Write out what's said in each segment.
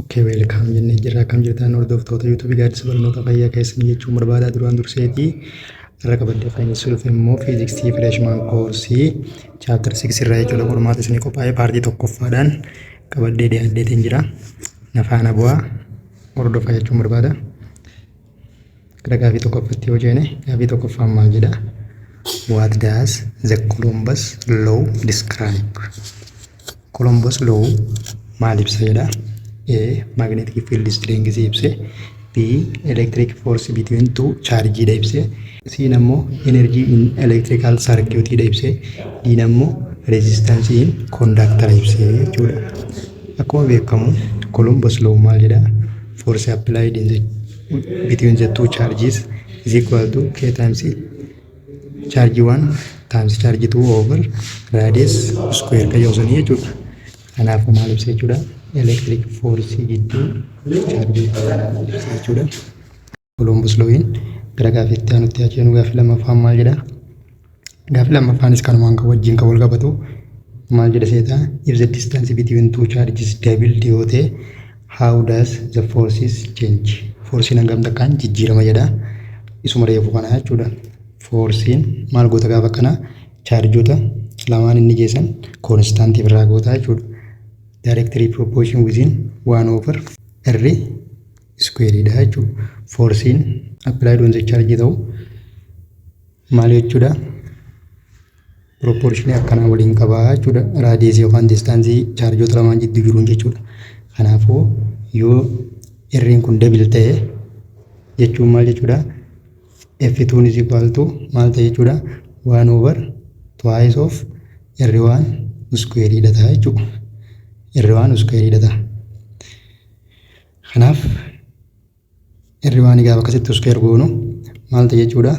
Ok welcome jennee jirra akkam jirtan hordoftoota YouTube gaaddisa barnoota fayyaa keessanii jechuun barbaada duraan durseetii irra qabadde faayinsii dhufe immoo fiiziksii fireeshmaan koorsii chaaptar 6 irraa jechuudha qormaata isinii qophaa'ee paartii tokkoffaadhaan qabaddee dhiyaaddeetiin jira nafaana bu'aa hordofaa jechuun barbaada. Gara gaafii tokkoffatti yoo jeene gaafii tokkoffaan maal jedha? What does the Columbus law describe? Columbus law maal ibsa jedha? A. Magnetic field strength ibse. B. Electric force between two charge dha ibse. C ammoo energy in electrical circuit dha ibse. D ammoo resistance in conductor ibse jechuudha. Akkuma beekamu Columbus law maal jedha? force applied in the between the two charges is equal to k times charge 1 times charge 2 over radius square kan yoo sanii jechuudha. Kanaaf maal ibsa jechuudha? Electric force gidduu charge jechuudha. Koloombus Looyiin gara gaaffii itti aanutti haa ceenu gaaffii lammaffaan maal jedha? Gaaffii lammaffaanis kanumaan kan wajjin kan wal qabatu maal jedha seeta? If the distance between two charges doubled yoo ta'e how does the forces change? Foorsiin hangam takkaan jijjiirama jedha. Isuma reefu kana jechuudha. Foorsiin maal goota gaafa kana chaarjoota lamaan inni geessan koonistaantiif irraa goota jechuudha. Directly proportion within 1 over r iskuweeriidha jechuudha. Foorsiin appilaayid on chaarjii ta'u maal jechuudha? Pirooporshinii akkanaa waliin qabaa jechuudha. Raadiyeesii yookaan diistaansii chaarjoota lamaan jidduu jiruun jechuudha. Kanaafuu yoo irriin kun dabil ta'e jechuun maal jechuudha? F2 is equal to maal ta'e jechuudha? 1 over twice of irri waan iskuweeriidha ta'a jechuudha. Irri waan iskuweeriidha ta'a. Kanaaf irriwaan gaafa akkasitti uskeer goonu maal ta'e jechuudha?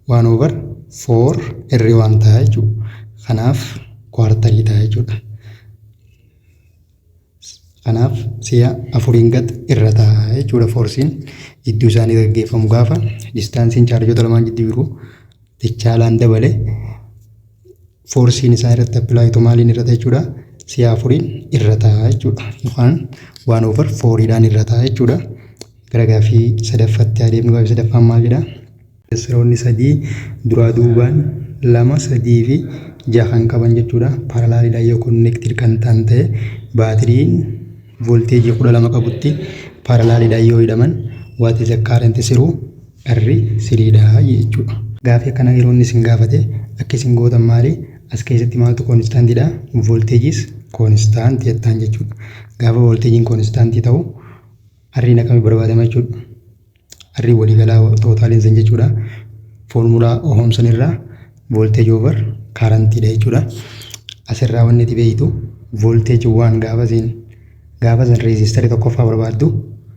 Waan over foor irriwaan ta'a jechuudha. Kanaaf kwaartalii ta'a jechuudha. Kanaaf si'a afuriin gad irra ta'a jechuudha foorsiin jidduu isaanii gaggeeffamu gaafa distaansiin chaarjoota lamaan jidduu jiru dachaalaan dabale Foorsiin isaa irratti appilaayi ta'u maaliin irrata jechuudha? Si'a afuriin irrata jechuudha. Yookaan waan over fooriidhaan irrata jechuudha. Gara gaaffii sadaffatti adeemnu gaaffii sadaffaan maal jedha? Seroonni sadii duraa duubaan lama sadii fi jaha kan qaban jechuudha. Paaralaaliidhaan yoo konneektiid kan ta'an ta'e baatiriin voolteejii kudha lama qabutti paaralaaliidhaan yoo hidhaman what is the current through Dharri siriidha jechuudha. Gaafii akkanaa yeroo inni isin gaafate akka isin gootan maali? As keessatti maaltu koonistaantidha? Voltage is constant jettaan jechuudha. Gaafa volteejiin koonistaantii ta'u R'n akkami barbaadama jechuudha. R waliigalaa tootaaliin san jechuudha. Foormulaa Ohoom san irraa volteeji over kaarantidha jechuudha. Asirraa wanni itti beektu volteeji waan gaafa isin gaafa san reezistarii tokkoffaa barbaaddu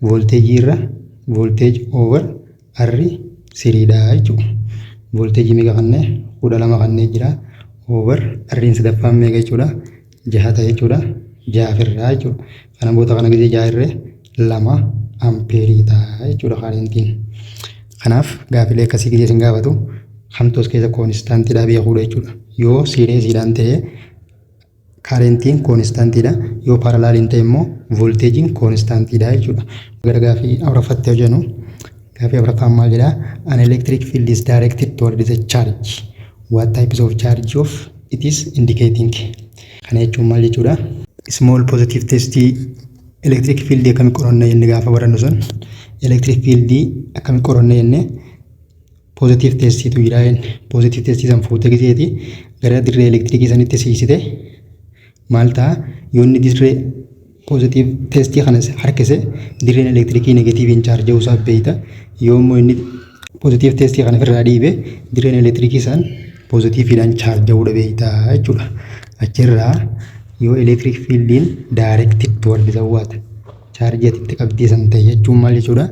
Voolteejii irra voolteeji over arri siriidha jechuudha. Voolteejii meeqa kanne kudha lama kannee jira. Over arriin sadaffaan meeqa jechuudha. Jaha ta'e jechuudha. Jaha firraa jechuudha. Kana boota kana gisee jaha irree lama ampeerii ta'a jechuudha kaarentiin. Kanaaf gaafilee akkasii gisee isin gaafatu kamtoos keessa koonistaantiidhaa beekuudha jechuudha. Yoo siiree siidhaan ta'ee Karentiin koonistaantiidha. Yoo paaralaal hin ta'e immoo voolteejiin koonistaantiidha jechuudha. Gara gaafii afuraffatti hojjennu. Gaafii afuraffaan maal jedha? An electric field is directed toward the charge. What types of charge of it is indicating. Kana jechuun maal jechuudha? Small positive test electric field akkamitti qoranna jenne gaafa barannu sun electric field akkamitti qoranna jenne Positive testiitu jira jenne. Positive testii san fuutee giseeti gara dirree elektirikii sanitti siisite maal ta'a yoo inni dirree positive testii kana harkise dirreen elektirikii negatiiviin chaarja'uu isaa beeyta yoo immoo inni positive testii kana ofirraa dhiibe dirreen elektirikii san positiiviidhaan chaarja'uudha beeyta jechuudha. Achirraa yoo electric fieldiin directed toward the water chaarjii ati itti qabdee san ta'e jechuun maal jechuudha?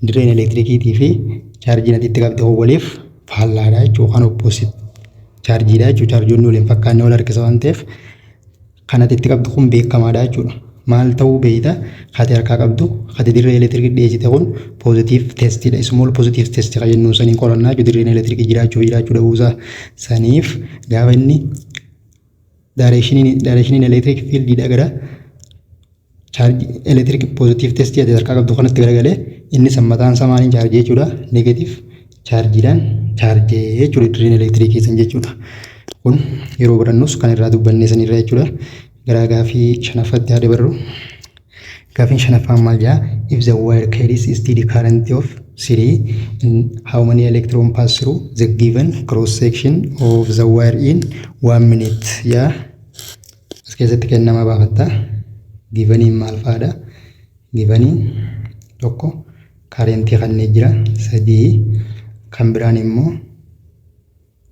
Dirreen elektirikiitii fi chaarjiin ati itti qabde waliif faallaadha jechuudha kan opposite chaarjiidha jechuudha chaarjoonni waliin fakkaannee wal harkisa waan ta'eef kan ati itti qabdu kun beekamaadha jechuudha. Maal ta'uu beekta ati harkaa qabdu ati dirree elektirikii dhiyeessite kun poozitiif testidha ismool poozitiif testi kan jennu saniin qorannaa jechuudha dirreen elektirikii jiraachuu fi jiraachuu dhabuusaa saniif gaafa inni Daareekshiniin daareekshiniin elektiriik fiildiidha gara chaarjii elektiriik poozitiiv testii ati harkaa qabdu kanatti garagalee innis mataan isaa maaliin chaarjii jechuudha neegatiiv chaarjiidhaan chaarjii jechuudha dirreen elektiriikii san jechuudha. Kun yeroo barannus kan irraa dubbannee sanirra jechuudha. Garaa gaafii shanaffaatti haa dabarru. Gaafiin shanaffaan maal jedha? If the wire carries a steady current of 3, how many electron pass through the given cross section of the wire in 1 minute? Yaa as keessatti kennama baafatta. Givaniin maal fa'aadha? Givaniin tokko kaarentii kanneen jira sadii kan biraan immoo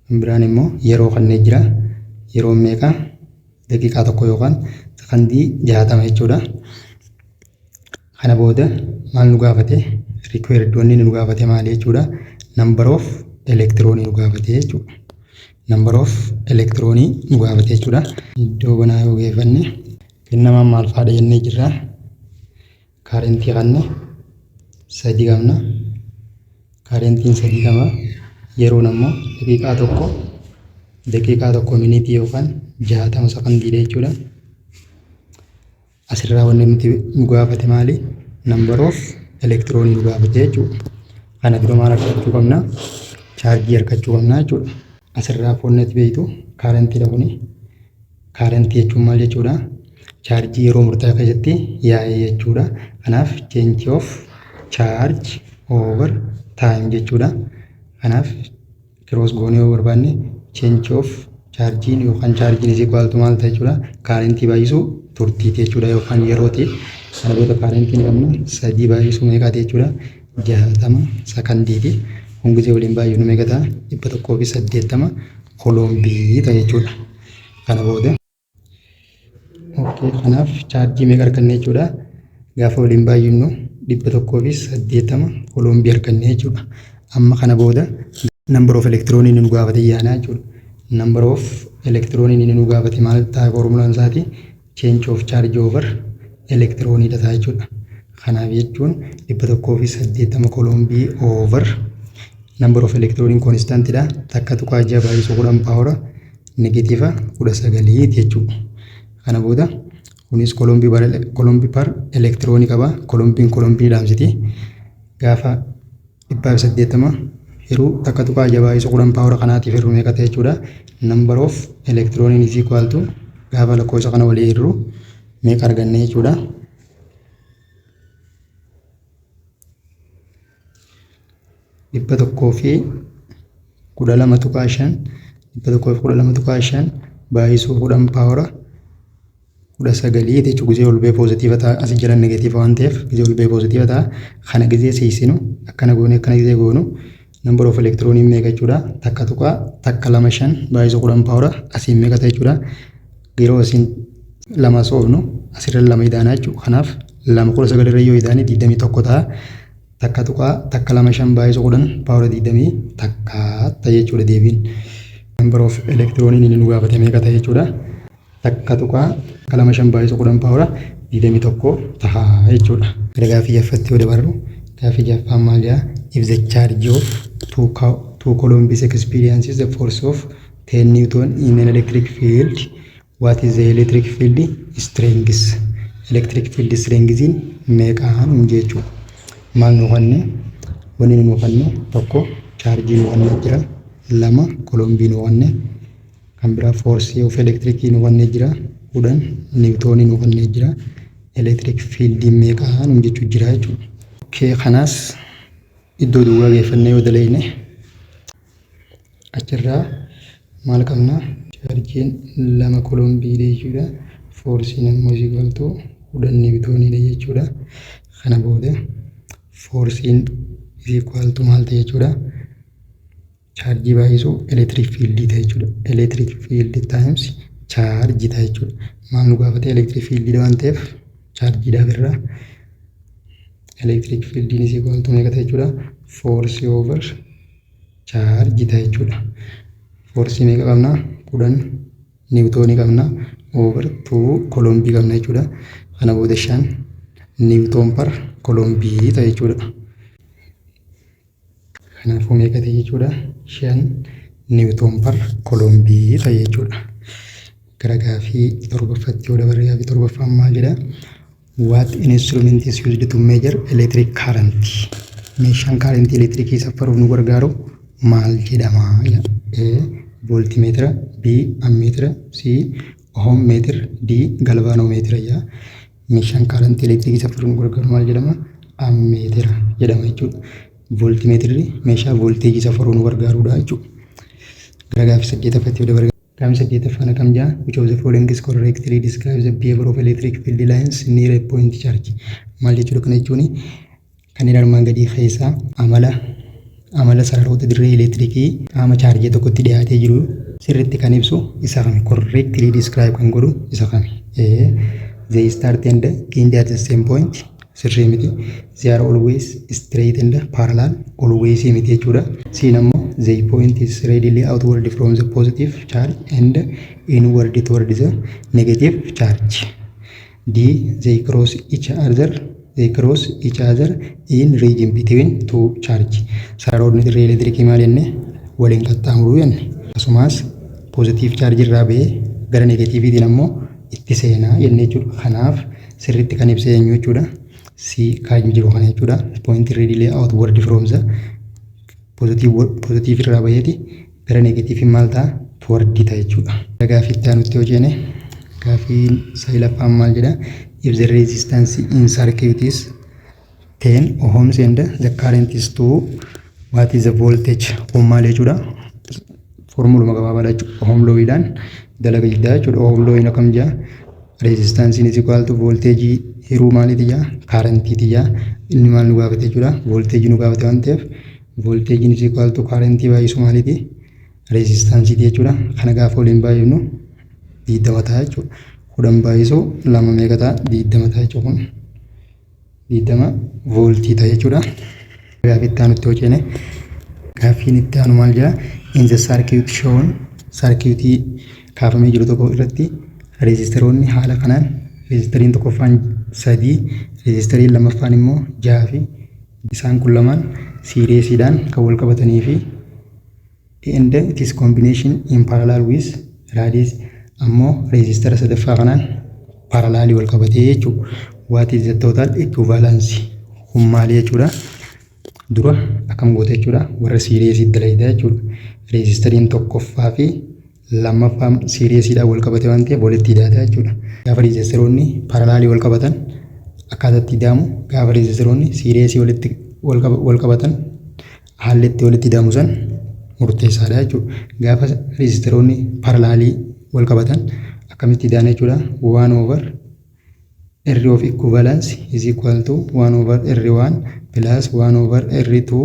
Inni biraan immoo yeroo kannee jira. Yeroon meeqa? Daqiiqaa tokko yookaan sakandii jaatama jechuudha. Kana booda maal nu gaafate? Required wanni nu gaafate maali jechuudha? Number of elektiroonii nu gaafate jechuudha. Number of elektiroonii nu gaafate jechuudha. Iddoo banaa yoo geeffanne kennamaan maal faadha jennee jirra? Kaarentii kanna sadii qabna. Kaarentiin sadii qaba. Yeroon ammoo daqiiqaa tokko daqiiqaa tokko miniitii yookaan jaatama sakandiidha jechuudha. Asirraa wanni nuti nu gaafate maali? Number of elektiroonii nu gaafate jechuudha. Kana dura maal argachuu qabna? Chaarjii argachuu qabna jechuudha. Asirraa foonnetti beektu kaarantiidha kuni. Current jechuun maal jechuudha? Chaarjii yeroo murtaa'aa keessatti yaa'e jechuudha. Kanaaf change of charge over time jechuudha. Kanaaf cross goonee yoo barbaanne change of chaarjiin yookaan chaarjiin is equal to maal ta'a jechuudha? Current baay'isuu turtiiti jechuudha yookaan yerooti. Kana booda current ni qabna sadii baay'isuu meeqaati jechuudha? Jahatama sakandiiti. Kun gisee waliin baay'ifnu meeqa ta'a? Dhibba tokkoo fi saddeettama kolombii ta'a jechuudha. kana booda kanaaf chaarjii meeqa arganne jechuudha gaafa waliin baay'innu dhibba tokkoo fi saddeettama koloombii arganne jechuudha amma kana booda number of elektiroonii nu gaafate yaanaa jechuudha number of elektiroonii nu gaafate maal ta'a foormulaan isaati change of charge over electroni dha jechuudha. Kanaaf jechuun 180 kolombii over number of electroniin constant dha takka tuqaa ja'a baay'isuu kudhan paawara negatiiva kudha sagalii jechuudha. Kana booda kunis kolombii bar kolombii par elektiroonii qaba kolombiin kolombii dhaamsiti gaafa dhibbaa fi saddeettama hiruu takka tuqaa ja'a baay'isu kudhan paawara kanaatiif hirru meeqa ta'e jechuudha. Number of elektirooniin is equal to gaafa lakkoofsa kana walii hirru meeqa arganne jechuudha. dhibba tokkoo fi kudha lama tuqaa shan dhibba tokkoo fi kudha lama tuqaa shan baay'isuu kudhan paawara kudha sagalii jechuun gizee ol ba'ee poozitiiva ta'a asi jala negatiiva waan ta'eef gizee ol ba'ee poozitiiva ta'a kana gizee siisinu akkana goone akkana gizee goonu number of electron meeqa jechuudha takka tuqaa takka lama shan baay'isa kudhan paawura asiin meeqa ta'e jechuudha yeroo asiin lama soofnu asirra lama idaanaa jechuudha kanaaf lama kudha sagal irra yoo idaane digdamii tokko ta'a takka tuqaa takka lama shan baay'isa kudhan paawura digdamii takka ta'e jechuudha deebiin number of electron inni nu gaafate meeqa ta'e jechuudha. 1.25 baay'isu 10 paawura 21 taha jechuudha. Gara gaaffii jaffatti yoo dabarru gaaffii jaffaan maal jedha? If the charge of two, two coulombs experiences the force of 10 newton in an electric field what is the electric field strength? Electric field strength meeqa hin jechuudha. Maal nu kanne? Wanni nu kanne tokko chaarjii nu kanne jira lama kolombii nu kanne kan biraa foorsii of elektirikii nu kennee jira kudhan niwutoonii nu kennee jira elektiriik fiildiin meeqaa nu jechuu jira jechuudha. Okkee kanaas iddoo duwwaa geeffannee yoo daleeyne achirraa maal qabna chaarjiin lama kolombiidha jechuudha foorsiin immoo isii galtuu kudhan niwutooniidha jechuudha kana booda foorsiin isii kwaaltuu maal ta'e jechuudha. chaarjii baay'isuu elektiriik fiildii ta'a jechuudha. Elektiriik fiildii taayims chaarjii ta'a jechuudha. Maal nu gaafate elektiriik fiildiidha waan ta'eef chaarjiidha birraa. Elektiriik fiildiin isii kooltuu meeqa ta'a jechuudha. Foorsii oovar chaarjii ta'a jechuudha. Foorsii meeqa qabna? Kudhan niwutoonii qabna. Oovar tuu kolombii qabna jechuudha. Kana booda shan niwutoon par kolombii ta'a jechuudha. Kanaafuu meeqa ta'e jechuudha? Shan niwutoon par kolombii ta'e jechuudha. Gara gaafii torbaffaatti yoo dabarre gaafii torbaffaan maal jedha? What instrument is used to measure electric current? Meeshaan kaarentii elektirikii saffaruuf nu gargaaru maal jedhama? A. Voltimeetira B. Ammeetira C. Ohom meetira D. Galvaanoomeetira jedha. Meeshaan kaarantii elektirikii saffaruun gargaaru maal jedhama? Ammeetira jedhama jechuudha. Vooltimeetirri meeshaa voolteejii saffaruu nu gargaarudha jechuudha. Gara gaaffii saddeetaffaatti yoo dabarre. Gaaffii saddeettaffaan akkam jedha? Which of the following is correctly describes the behavior of electric field lines near a point charge? Maal jechuudha kana jechuun Kanneen armaan gadii keessaa amala amala sararoota dirree elektirikii qaama chaarjii tokkotti dhiyaatee jiru sirriitti kan ibsu isa kami? Correctly describe kan godhu isa kami? Ee, they start and end at the same point sirrii miti. They are always straight and parallel always miti jechuudha. Siin ammoo they point is readily outward from the positive charge and inward toward the negative charge. D. They cross each other They cross each other in region between two charge. Sararoonni dirree elektirikii maal jenne? Waliin qaxxaamuruu jenne. Akkasumas poozitiiv chaarjii irraa ba'ee gara negatiiviitiin ammoo itti seenaa jenne jechuudha. Kanaaf sirriitti kan ibsee eenyu jechuudha. C kan jiru kana jechuudha. Point readily outward from the Pozitiivii irraa baheeti gara negatiiviin maal ta'a? Tuwardii ta'a jechuudha. Gaafii itti aanutti yoo ceene gaafiin sadaffaan maal jedha? If the resistance in circuit is 10 ohms and the current is 2 what is the voltage? Kun maal jechuudha? Foormuluma gabaabaadha jechuudha. Ohom looyiidhaan dalaga jiddaa jechuudha. Ohom looyiin akkam jaa? Reezistaansiin is equal to voolteejii hiruu maalii tiyyaa kaarentii tiyyaa inni maal nu gaafate jechuudha voolteejii nu gaafate waan ta'eef voolteejiin is equal to kaarentii baay'isu maaliiti reezistaansiiti jechuudha kana gaafa waliin baay'ifnu diiddama ta'a jechuudha kudhan baay'isu lama meeqa ta'a diiddama ta'a jechuudha kun. 20 vooltii ta'a jechuudha. Gaaffii itti aanutti yoo ceene gaaffiin itti aanu maal jedha? In the circuit shown sarkiitii kaafamee jiru tokko irratti reezistaroonni haala kanaan reezistariin tokkoffaan sadii reezistariin lammaffaan immoo jaha fi isaan kun lamaan siireesiidhaan kan wal qabatanii fi and then it is combination in parallel with radius ammoo reezistara sadaffaa kanaan paralaalii wal qabatee jechuudha. What is the total equivalence? Kun maali jechuudha? Dura akkam goota jechuudha? Warra siireesii dalaydha jechuudha. Reezistariin tokkoffaa fi lammaffaa siiriyeesiidhaan wal qabate waan ta'eef walitti hidhaata jechuudha. Gaafa riizeesteroonni paralaalii wal qabatan akkaataa itti hidhaamu gaafa riizeesteroonni siiriyeesii walitti wal qabatan haalli itti walitti hidhaamu san murteessaadha jechuudha. Gaafa riizeesteroonni paralaalii wal qabatan akkamitti hidhaan jechuudha. Waan over irri of equivalence is equal to waan over irri waan plus waan over irri two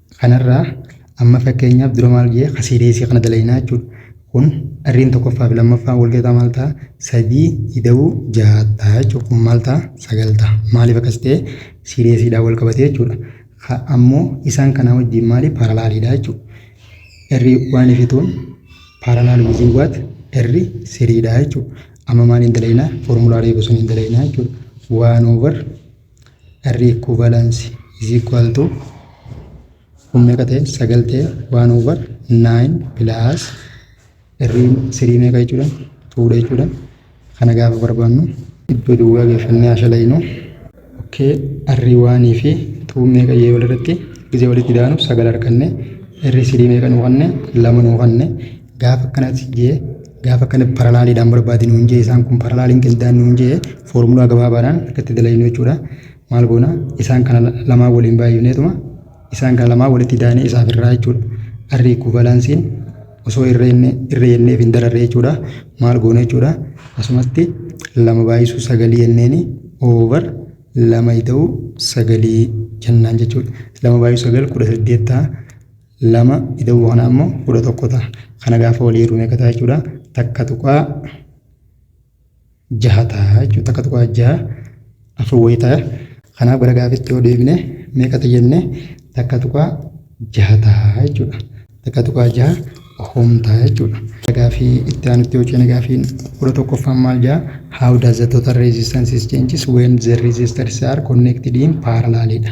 Kanarraa amma fakkeenyaaf dura maal jee kasiireesii kana dalaynaa jechuudha. Kun dharriin tokkoffaa fi lammaffaan wal gataa maal ta'a? Sadii ida'uu ja'a ta'a jechuudha. Kun maal ta'a? Sagal ta'a. Maaliif akkas ta'e? Siireesiidhaan wal qabatee jechuudha. Ka ammoo isaan kanaa wajjin maali? Paaralaaliidha jechuudha. Erri waan ifituun paaralaal wiziin waat erri siriidha jechuudha. Amma maaliin dalaynaa? Foormulaa reefu suniin dalaynaa jechuudha. Waan oovar R equivalence is equal to kun meeqa ta'e sagal ta'e waan over nine plus R sirii meeqa jechuudha tuudha jechuudha kana gaafa barbaannu iddoo duwwaa geeffannee haashalaynu okay R waanii fi tuu meeqa yoo walirratti gisee walitti daanu sagal arganne R sirii meeqa nuu kanne lama nuu kanne gaafa akkanatti jee Gaafa kana paralaaliidhaan barbaadi nuun jee isaan kun paralaaliin qindaan nuun jee foormulaa gabaabaadhaan akkatti dalagnuu jechuudha. Maal goona isaan kana lamaa waliin baay'ifneetuma isaan kana lamaa walitti daanee isaaf irraa jechuudha. Arri ikuvalansiin osoo irra inni irra yenneef hin dararre jechuudha. Maal goona jechuudha. Asumatti lama baay'isuu sagalii yenneeni over lama ida'uu sagalii jennaan jechuudha. Lama baay'isuu sagal kudha saddeet ta'a. lama ida'uu kanaa immoo kudha tokko ta'a. Kana gaafa walii hirru meeqa ta'a jechuudha? Takka tuqaa jaha ta'a jechuudha. Takka tuqaa jaha afur wayii ta'a. Kanaaf gara gaafitti yoo deebine meeqa ta'a jenne takka tuqaa jaha ta'a jechuudha. Takka tuqaa jaha ohoom ta'a jechuudha. Gaafii itti aanutti yoo ceene gaafiin kudha tokkoffaan maal ja'a? How does the total resistance changes when the resistors are connected in parallel dha.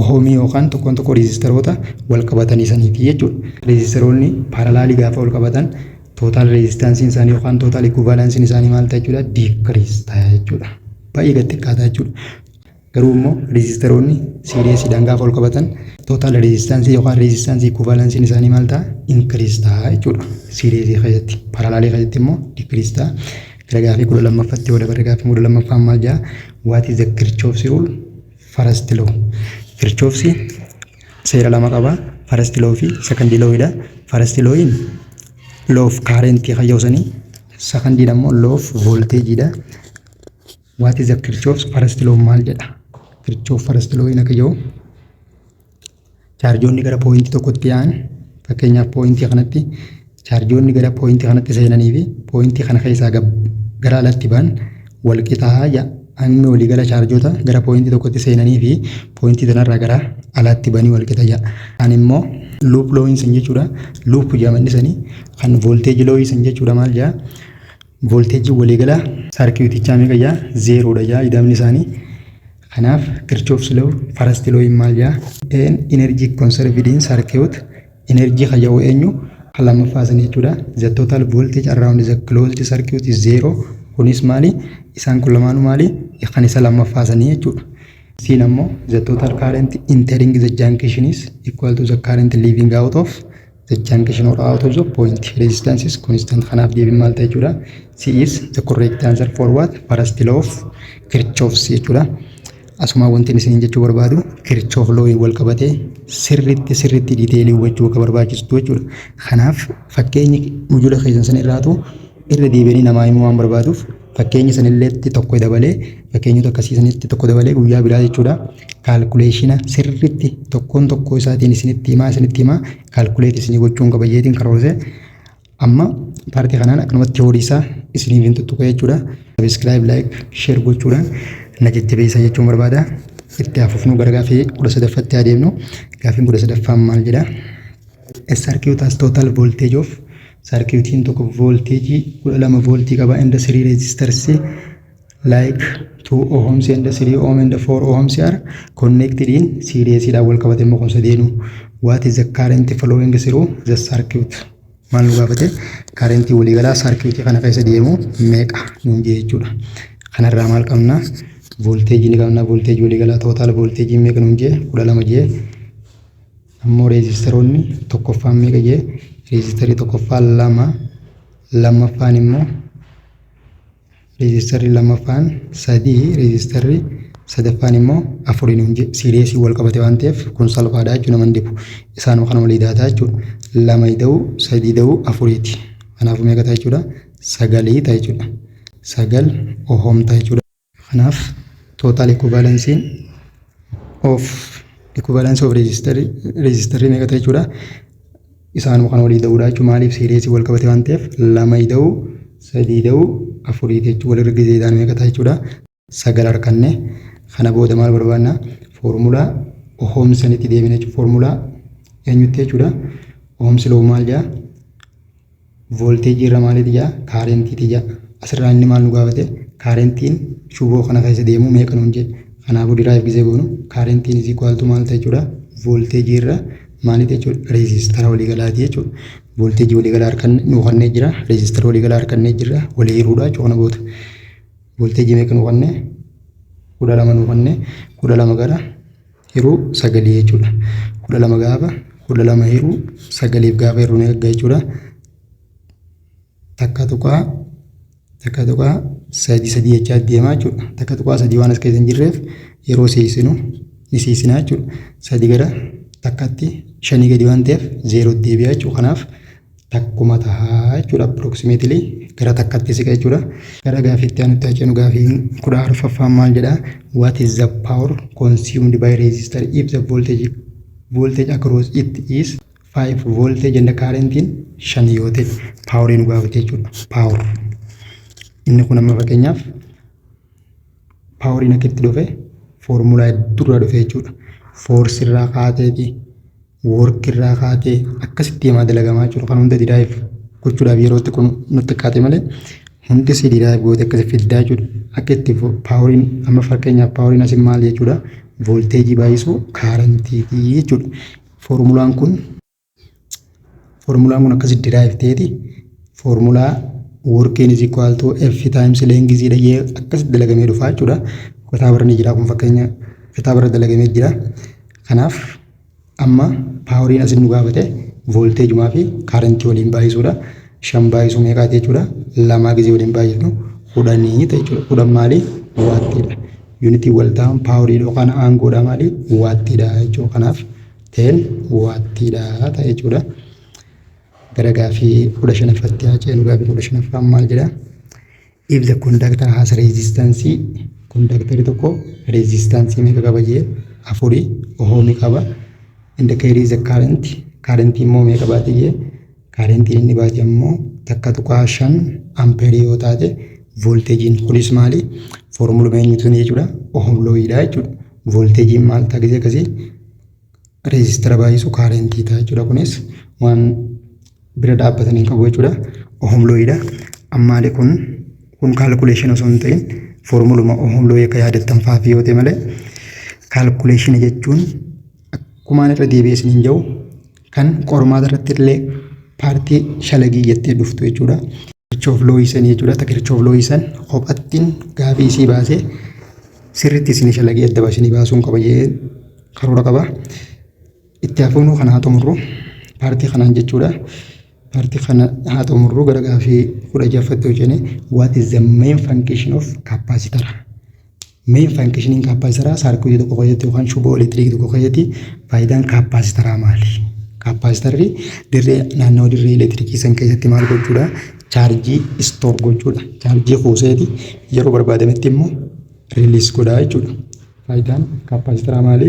ohomii yookaan tokkoon tokko reezistaroota wal qabatanii saniiti jechuudha. Reezistaroonni paaralaalii gaafa wal qabatan tootaal reezistaansiin isaanii yookaan tootaal ikuvaalaansiin isaanii maal ta'a jechuudha diikiriis ta'a jechuudha. Baay'ee gad xiqqaata jechuudha. Garuu immoo reezistaroonni siiriyeesiidhaan gaafa wal qabatan tootaal reezistaansii yookaan reezistaansii ikuvaalaansiin isaanii maal ta'a inkiriis ta'a jechuudha. Siiriyeesii keessatti paaralaalii keessatti immoo diikiriis ta'a. Gara gaafii kudha lammaffatti yoo dabarre gaafii kudha lammaffaan maal jedha? What is the Kirchhoff's rule First law. Kirchoofsi seera lama qaba. First law fi second law dha. First lawin law of current kan yoo sani. Second dha immoo law of voltage dha. What is the Kirchoofs first law maal jedha? Kirchoof first law hin akka yoo Chaarjoonni gara pooyintii tokkotti yaa'an fakkeenyaaf pooyintii kanatti chaarjoonni gara pooyintii kanatti seenanii fi pooyintii kana keessaa gara alatti ba'an wal qixaa ja'a. Hanni waliigala chaarjoota gara pooyintii tokkotti seenanii fi pooyintii sanarraa gara alaatti ba'anii wal qixa ja'a. Kan immoo luup looyiin san jechuudha. Luup jedhamanni sanii kan voolteeji looyii san jechuudha maal ja'a? Voolteejiin waliigalaa saarkiitichaa meeqa ja'a? Zeeroodha ja'a ida'amni isaanii. Kanaaf Kirchhoff's law, first law in maal jaa? An energy conserved in circuit, energy kan jedhu eenyu? Kan lammaffaa san jechuudha. The total voltage around the closed circuit is zero. Kunis maali? Isaan kun lamaanuu maali? Kan isa lammaffaa sanii jechuudha. Siin ammoo the total current entering the junction is equal to the current leaving out of The junction or out of the point resistance is constant. Kanaaf deebiin maal ta'e jechuudha? C is the correct answer for what? First law of Kirchhoff's jechuudha. Asuma wanti isin jechuu barbaadu Kirchhoff law wal qabatee sirriitti sirriitti diiteelii hubachuu akka barbaachistu jechuudha. Kanaaf fakkeenyi mujula keessan san irraatu irra deebi'anii namaa himuu waan barbaaduuf Fakkeenya sanilleetti tokko dabalee fakkeenyota akkasii sanitti tokko dabalee guyyaa biraa jechuudha. Kaalkuleeshina sirriitti tokkoon tokkoo isaatiin isinitti himaa isinitti himaa kaalkuleetii isinii gochuun qaba jeetiin karoorse. Amma paartii kanaan akkanumatti teoorii isaa isiniif hin tuttuqa jechuudha. Sabiskiraayib, laayik, sheer gochuudhaan na jajjabeessaa jechuun barbaada. Itti haafufnu gara gaafii kudha sadaffaatti adeemnu. Gaafiin kudha sadaffaan maal jedha? SRQ taas total voltage of Sarkiitiin tokko voolteejii 12 vooltii qaba and 3 resistors like 2 ohms and 3 ohm and 4 ohms are connected in series dhaan wal qabate immoo kun sadeenu what is the current flowing through the circuit maal nu gaafate current waliigalaa sarkiitii kana keessa deemu meeqa nuun jee jechuudha kanarraa maal qabna voolteejii ni qabna voolteejii waliigalaa tootaal voolteejii meeqa nuun jee 12 jee Ammoo reejistaroonni tokkoffaan meeqa jee reejistarri tokkoffaan lama lammaffaan immoo reejistarri lammaffaan sadii reejistarri sadaffaan immoo afuriin hin jee siiriyeesii wal qabate waan ta'eef kun salphaadha jechuun nama hin dhibu isaanuma kana walii daataa jechuudha lama ida'uu sadii ida'uu afuriiti kanaafuu meeqa ta'a jechuudha sagalii ta'a jechuudha sagal ohom ta'a jechuudha. Kanaaf total equivalence of equivalence of register register meeqa ta'e jechuudha. Isaanuma kan walii da'uudha jechuudha. Maaliif seereesii wal qabate waan ta'eef lama ida'u sadii ida'u afurii jechuudha. Walirra gizee ida'an meeqa ta'a jechuudha. Sagal arkanne kana booda maal barbaanna foormulaa ohomsanitti deebina jechuudha. Foormulaa eenyutti jechuudha. Ohomsi loo maal jedha? Voolteejii irra maaliiti jaa? Kaarentiiti jaa. Asirraa inni maal nu gaafate? Kaarentiin shuboo kana keessa deemu meeqa nuun jedhe. Kanaafuu diraayif gizee goonu kaarentiin is equal to maal ta'a jechuudha? Voolteejii irra maaliiti jechuudha? Reezistara waliigalaati jechuudha. Voolteejii waliigalaa harkanne nu kannee jira. Reezistara waliigalaa harkannee jirra. Walii hiruudha jechuudha kana booda. Voolteejii meeqa nu kannee? Kudha lama nu kannee. Kudha lama gara hiruu sagalii jechuudha. kudha lama gaafa kudha lama hiruu sagaliif gaafa hiruu ni arga jechuudha. Takka tuqaa takka tuqaa sadii sadii jechaa deemaa jechuudha. Takka tuqaa sadii waan as keessa hin jirreef yeroo seesinu ni seesinaa jechuudha. Sadii gara takkatti shanii gadi waan ta'eef zeeroo deebi'aa jechuudha. Kanaaf takkuma taha jechuudha approximately gara takkatti siqa jechuudha. Gara gaafii itti aanutti haa ceenu gaafii kudha arfaffaan maal jedha what is the power consumed by resistor if the voltage voltage across it is 5 voltage and the current in 5 yoo ta'e power nu gaafate jechuudha power inni kun amma fakkeenyaaf power inni akka itti dhufe foormulaa durraa dhufe jechuudha force irraa kaateeti work irraa kaatee akkasitti deemaa dalagamaa jiru kan hunda didaayiif gochuudhaaf yeroo itti kun nutti qaate malee hundi si didaayiif goote akkasi fiddaa jechuudha. Akka itti paaworiin amma fakkeenyaaf paaworiin asin maal jechuudha voolteejii baay'isuu kaarantiitii jechuudha. Foormulaan kun foormulaan kun akkasi didaayiif ta'eeti foormulaa workiin is equal to f times length dha jee akkasi dalagamee dhufaa jechuudha. Kitaaba irra ni jira kun fakkeenya kitaaba irra dalagamee jira. Kanaaf Amma paaworiin asin nu gaafate voolteejumaa fi kaarentii waliin baay'isuudha. Shan baay'isuu meeqaati jechuudha? Lamaa gizee waliin baay'ifnu kudhanii ta'e jechuudha. Kudhan maali? Waattiidha. Yuunitiin walta'aan paaworiidha yookaan aangoodha maali? Waattiidha jechuudha. Kanaaf teen waattiidha ta'e jechuudha. Gara gaafii kudha shanaffatti haa ceenu. Gaafii kudha shanaffaan maal jedha? If the conductor has resistance conductor tokko resistance meeqa qaba jee afuri ohoomi qaba and the carry the current current immoo meeqa baate jee current inni baate immoo takka tuqaa shan ampere yoo taate volteejiin kunis maali foormuluma eenyutu jechuudha ohom looyidha jechuudha volteejiin maal ta'a gisee akkasii reezistara baay'isu kaarentii ta'a jechuudha. Kunis waan bira dhaabbatanii hin qabu jechuudha. Ohomlooyidha. Ammaali kun kun kaalkuleeshin osoo hin ta'in foormuluma ohomlooyi akka yaadattan fa'aaf yoo ta'e malee kaalkuleeshina jechuun akkumaan irra deebi'ee isin hin jiru kan qormaata irratti illee paartii shalagii jettee dhuftu jechuudha. Kirchoof looyisan jechuudha. Takka kirchoof looyisan kophattiin gaafii isii baasee sirriitti isin shalagii adda baasanii baasuun qaba jee karoora qaba. Itti hafuunuu kana haa xumurru. Paartii kanaan jechuudha. Paartii kana haa xumurru gara gaafii kudha ja'affatti yoo ceene what is the main function of capacitor? Main functioning capacitor saarkuutii tokko keessatti yookaan shuboo elektiriikii tokko keessatti faayidaan kaapaasitaraa maali? Kaapaasitarri dirree naannoo dirree elektiriikii san keessatti maal gochuudha? Chaarjii istoor gochuudha. Chaarjii kuuseeti yeroo barbaadametti immoo riiliis godhaa jechuudha. Faayidaan kaappaasitaraa maali?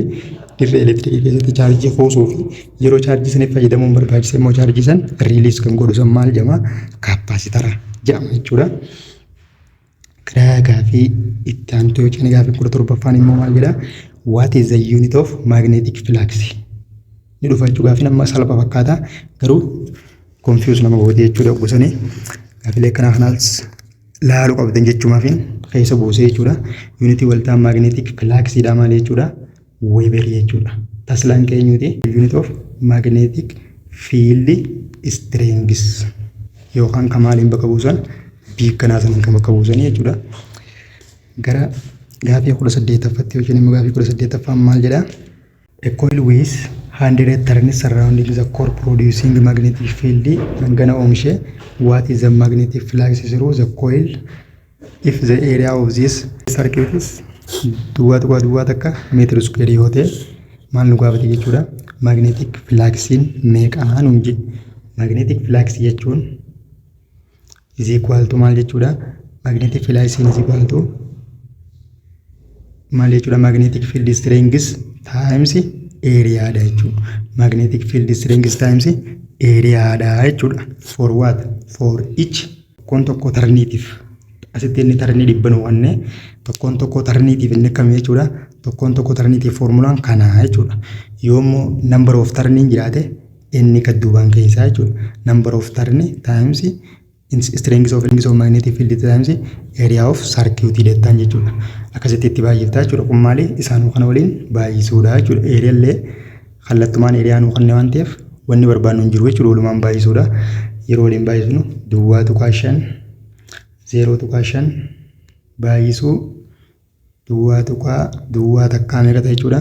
Dirree elektirikii keessatti chaarjii kuusuu fi yeroo chaarjii saniif fayyadamuun barbaachisa immoo chaarjii san riiliis kan godhu san maal jedhama? Kaappaasitara jedhama jechuudha. Gara gaafii itti aantu yoo ceene gaafii kudha torbaffaan immoo maal jedha? What is the unit of magnetic flux? Ni dhufa jechuu gaafiin amma salpha fakkaata garuu confuse nama gootee jechuudha gosanii gaafilee akkanaa kanaas laalu qabdan jechumaafin keessa buusee jechuudha. Yuunitii waltaa maagneetik filaaksiidhaa maal jechuudha? Weeberii jechuudha. Taslaan keenyuuti yuunit of maagneetik fiildi istireengis yookaan kan maaliin bakka buusan biikkanaa saniin kan bakka buusan jechuudha. Gara gaafii kudha saddeettaffatti yookiin immoo gaafii kudha saddeettaffaan maal jedhaa? A coil with 100 turns surrounding the core producing magnetic field hangana oomishe what is the magnetic flux through the coil if the area of this circuit is duwwaa tuqaa duwwaa takka meetira iskuweerii yoo ta'e maal nu gaafate jechuudha magnetic fluxin meeqaa nuun jedhe magnetic flux jechuun is equal to maal jechuudha magnetic field I sin is equal to maal jechuudha magnetic field strength times area dha jechuudha magnetic field strength times area dha jechuudha for what for each tokkoon tokko tarniitiif asitti inni tarnii dhibba nu wanne tokkoon tokko tarniitiif inni akkam jechuudha tokkoon tokko tarniitiif foormulaan kana jechuudha yoommoo number of tarniin jiraate Inni gad duubaan keessaa jechuudha. Number of turn times strength of rings of magnetic field times area of circuit jettaan jechuudha. Akkasitti itti baay'iftaa jechuudha. Kun maali? Isaanuu kana waliin baay'isuudha jechuudha. Eeriyaan illee kallattumaan eeriyaa nuu kenne waan ta'eef wanni barbaadnu hin jiru jechuudha. Walumaan baay'isuudha. Yeroo waliin baay'isnu duwwaa tuqaa shan zeeroo tuqaa shan baay'isuu duwwaa tuqaa duwwaa takkaa meeqa ta'e jechuudha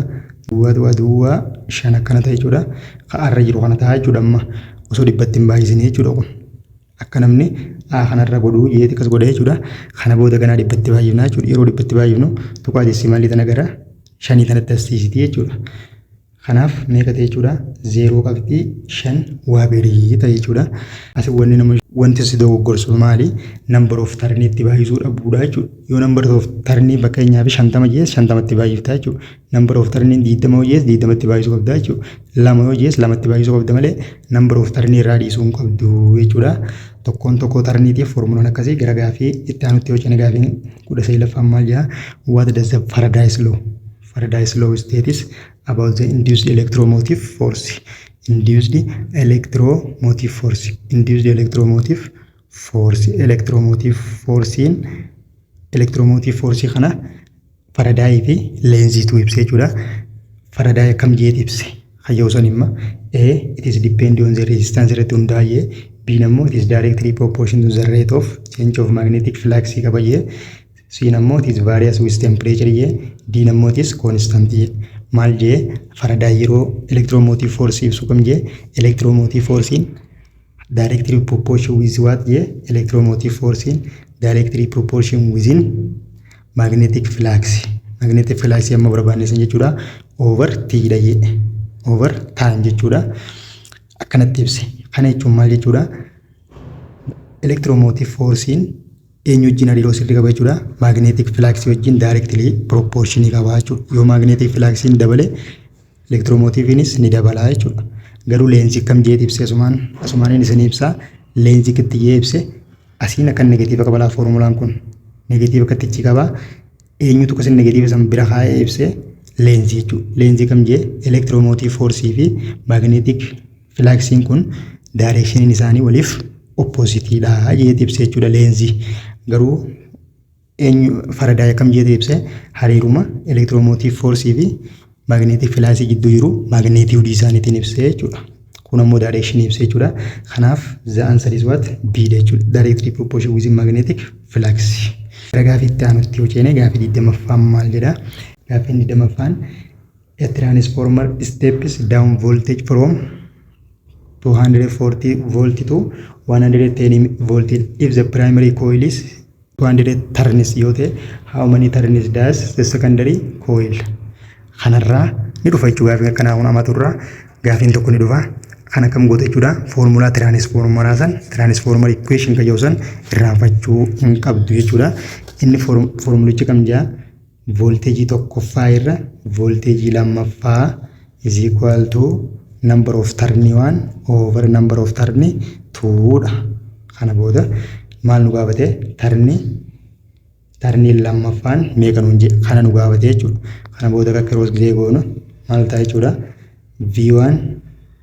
duwwaa tuqaa duwwaa shan akkana ta'e jechuudha ka arra jiru kana ta'a jechuudha amma osoo dhibbatti hin baay'isine jechuudha kun akka namni a kanarra godhu jeeti akkas godha jechuudha kana booda ganaa dhibbatti baay'ifna jechuudha yeroo dhibbatti baay'ifnu tuqaa desimaalii tana gara shanii tanatti assiisiti jechuudha Kanaaf meeqa ta'e jechuudha? Zeeroo qabxii shan waa birii ta'e jechuudha. Asi wanni nama wanti si dogoggorsu maali? Number of tarnii itti baay'isuu dhabuudha jechuudha. Yoo number of tarnii fakkeenyaaf shantama jees shantamatti baay'ifta jechuudha. Number of tarnii diidama yoo jees diidamatti baay'isuu qabda jechuudha. Lama yoo jees lamatti baay'isuu qabda malee number of tarnii irraa dhiisuu hin qabdu jechuudha. Tokkoon tokkoo tarniitiif formulaan akkasii gara gaafii itti aanutti yoo cina gaafiin kudha saglaffaan maal jedha? What does the paradise law? Faraday's law states about the induced electromotive force. Induced electromotive force. Induced electromotive force. Electromotive force'n electromotive force kana Faraday fi Lenz'tu ibse jechuudha. Faraday akkam jeet ibse. Hayyoo san imma A it is depend on the resistance irratti hundaa'ee B nammoo it is directly proportion to the rate of change of magnetic flux qaba jee Siin ammoo it is various with temperature jee D'n ammoo it is constant jee maal jee Faraday yeroo electromotive force ibsu kam jee electromotive force in directly proportion with what jee electromotive force in directly proportion within magnetic flux magnetic flux amma barbaanne san jechuudha over t dha jee over time jechuudha akkanatti ibse kana jechuun maal jechuudha electromotive force in eenyu wajjin hariiroo sirrii qaba jechuudha. Maagneetik filaaksii wajjin daayirektilii pirooppooshinii qaba jechuudha. Yoo maagneetik filaaksiin dabale elektiromootiiviinis ni dabala jechuudha. Garuu leensii kam jeet ibse asumaan asumaaniin isin ibsaa leensii kittiyyee ibse asiin akka negatiiva qaba laa foormulaan kun negatiiva kittichi qaba eenyutu kasin negatiiva san bira kaa'ee ibse leensii jechuudha. Leensii kam jee elektiromootiif foorsii fi maagneetik Filaaksiin kun daayireekshiniin isaanii waliif oppoozitiidha jeeti ibsa jechuudha leenzii. Garuu eenyu faradaay akkam jeeti ibse hariiruma elektiroomotiiv foorsii fi maagneetik filaasii gidduu jiru maagneetiwudii isaaniitiin ibse jechuudha. Kun ammoo daayireekshinii ibse jechuudha. Kanaaf the answer is what B dha jechuudha. Directly proportion with magnetic flux. Gara gaafii itti aanutti yoo ceene gaafii 20ffaan maal jedha? Gaafiin 20ffaan A transformer steps down voltage from 240 volt to 110 volt if the primary coil is 200 turns yoo ta'e how many turns does the secondary coil kanarraa ni dhufa jechuudha gaafiin akkanaa kun amatu irraa gaafiin tokko ni dhufa kan akkam goota jechuudha foormulaa tiraanisfoormaraa san tiraanisfoormar ikweeshin kan jedhu san irraanfachuu hin qabdu jechuudha inni foormulichi kam jaa Voolteejii tokkoffaa irra voolteejii lammaffaa is equal to number of turn 1 over number of turn 2 dha. Kana booda maal nu gaafate? Tarni tarni lammaffaan meeqa nuun jedhe kana nu gaafate jechuudha. Kana booda akka kiroos gizee goonu maal ta'a jechuudha? V1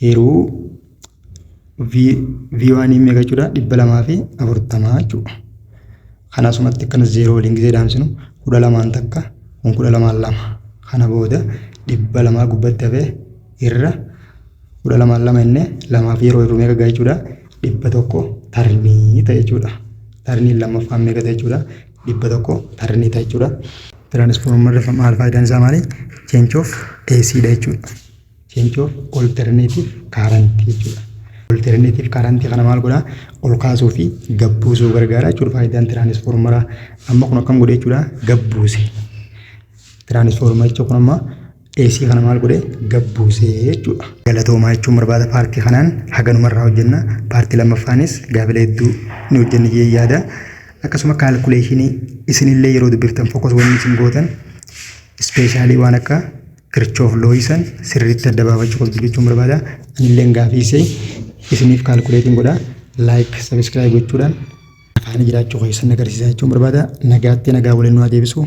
Hiruu V1 meeqa jechuudha? dhibba lamaa fi afurtamaa jechuudha. Kan asumatti akkana zeeroo waliin gisee dhaamsinu kudha lamaan takka kun kudha lamaan lama. Kana booda dhibba lamaa gubbatti hafee irra kudha lamaan lama inni lamaaf yeroo hir'u meeqa ga'a jechuudha? dhibba tokko tarnii ta'a jechuudha. Tarniin lammaffaan meeqa ta'a jechuudha? dhibba tokko tarnii ta'a jechuudha. Tiraanisfoormarri maal faayidaan isaa maali? Change of AC dha jechuudha. change of alternative current jechuudha. Alternative current kana maal godhaa? Ol kaasuu fi gad buusuu gargaara jechuudha faayidaan tiraanisfoormaraa. Amma kun akkam godhe jechuudha gad buuse. Tiraanisfoormaricha kun amma AC kana maal godhe gad buuse jechuudha. Galatoomaa jechuun barbaada paartii kanaan haganuma irraa hojjenna. Paartii lammaffaanis gaafilee hedduu ni hojjenna jee yaada. Akkasuma kaalkuleeshinii isinillee yeroo dubbiftan fokkos wanni isin gootan ispeeshaalii waan akka Kirchoof looyii san sirriitti adda baafachuu qabdu jechuun barbaada. Anilleen gaafii see isiniif kaalkuleetiin godha. Laayik, sabiskiraayib gochuudhaan afaanii jiraachuu keessan agarsiisaa jechuun barbaada. Nagaatti nagaa waliin nu haa deebisu.